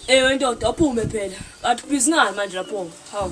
Ewe ndoda ophume phela. Kanti busy ngani manje lapho? Hawu.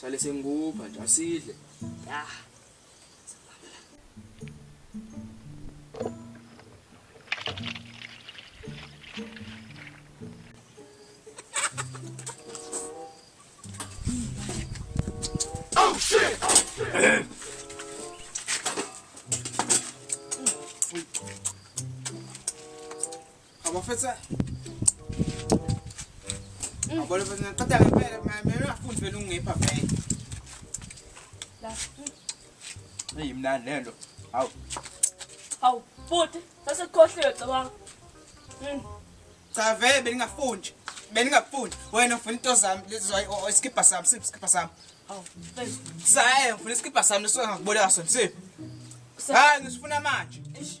Sale sengikupha nje asidle. Ya. Oh shit! Abafethu. Abole futhi ngiqeda ngempela mina ngafundi vele ungipha vele. La. Hey mnandi lento. Hawu. Hawu, futhi bese kukhohliwe cabanga. Mm. Cha vele beningafundi. Beningafundi. Wena ufuna into zami lezi isikibha sami, siphi isikibha sami? Hawu. Saye, ufuna isikibha sami leso ngakuboleka sona, siphi? Hayi, ngisifuna manje. Eish.